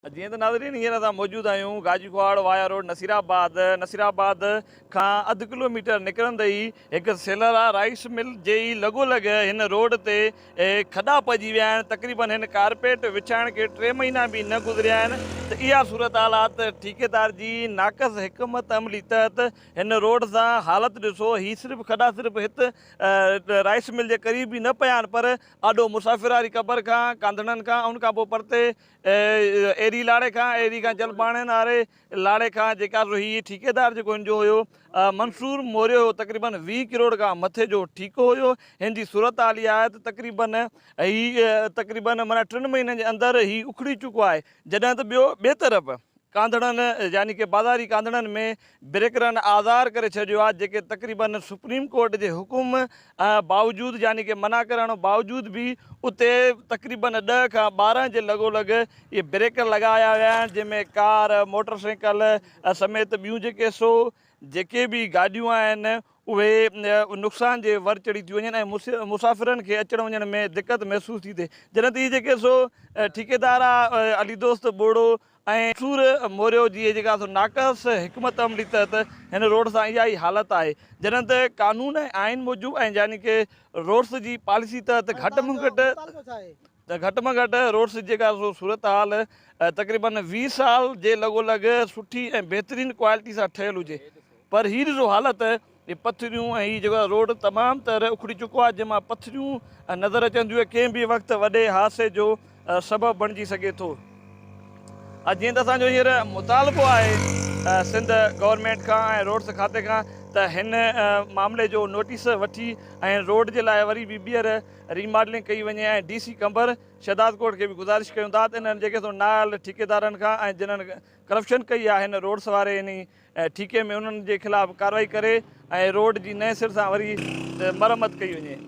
جيئن ته ناظرين هينئر اسان موجود آهيون Gaji Kahar via road Nasirabad Nasirabad کان اڌ ڪلو ميٽر نڪرندي ئي هڪ سيلر آ رائيس مل جي ئي لڳو لڳ هن روڊ تي کڏا پئجي ويا آهن تقريبن هن ڪارپيٽ وڇائڻ کي ٽي مهينا به نه گذريا آهن ته اها صورتحالات ٺيڪيدار جي ناقص حڪمت عملي تحت هن روڊ سان حالت ڏسو هي صرف کڏا صرف هت رائيس مل جي قريب ئي نه پيا آهن پر آڏو مسافر واري قبر کان، ڪانڌڻن کان، ان کان پوء پرتي ايري لاڙي کان، ايري کان جلباڻين واري لاڙي کان، جيڪا سو هي ٺيڪيدار جيڪو هن جو هيو منصور موريو هيو تقريبن ويهه ڪروڙ کان مٿي جو ٺيڪو هيو. هن جي صورتحال اها آهي ته تقريبن هي تقريبن معنيٰ ٽن مهينن جي اندر هي اکڙي چڪو آهي جڏهن ته ٻيو ٻئي طرف ڪانڌڙن يعني ڪه بازاري ڪانڌڙن ۾ بريڪرن آزار ڪري ڇڏيو آهي جيڪي تقريبا سپريم ڪورٽ جي حڪم باوجود يعني ڪه منع ڪرڻ باوجود به اتي تقريبا ڏهه کان ٻارهن جي لڳو لڳ اهي بريڪر لڳايا ويا آهن جنهن ۾ ڪار موٽر سائيڪل سميت ٻيون جيڪي سو جيڪي به گاڏيون آهن اهي نقصان جي ور چڙهي ٿيون وڃن ۽ مسافرن کي اچڻ وڃڻ ۾ دقت محسوس ٿي ٿئي جڏهن ته اهي جيڪي سو ٺيڪيدار علي دوست ٻوڙو ۽ سور موريو جي جيڪا سو ناقص حڪمت عملي تحت هن روڊ سان اها ئي حالت آهي جڏهن ته قانون ۽ آئين موجب ۽ يعني ڪه روڊس جي پاليسي تحت گهٽ م گهٽ ته گهٽ م گهٽ روڊس جي جيڪا سو صورتحال تقريبا ويهه سال جي لڳو لڳ سٺي ۽ بهترين ڪوالٽي سان ٺهيل هجي پر هي ڏسو حالت جي پٿريون ۽ هي جيڪو روڊ تمام تر اکڙي چڪو آهي جنهن مان پٿريون نظر اچن ٿيون ۽ ڪنهن به وقت وڏي حادثي جو سبب بڻجي سگهي ٿو ۽ جيئن ته اسان جو هينئر مطالبو آهي سنڌ گورنمينٽ کان ۽ روڊس کاتي کان ته هن معاملي جو نوٽيس وٺي ۽ روڊ جي لاء وري به ٻيهر ري ماڊلنگ ڪئي وڃي ۽ ڊي سي قمبر شهداد ڪوٽ کي به گذارش ڪيون ٿا ته انهن جيڪي سو نااهل ٺيڪيدارن کان ۽ جنهن ڪرپشن ڪئي آهي هن روڊس واري انهي ۽ ٺيڪي ۾ انهن جي خلاف ڪارروائي ڪري ۽ روڊ جي نئين سر سان وري مرمت ڪئي وڃي.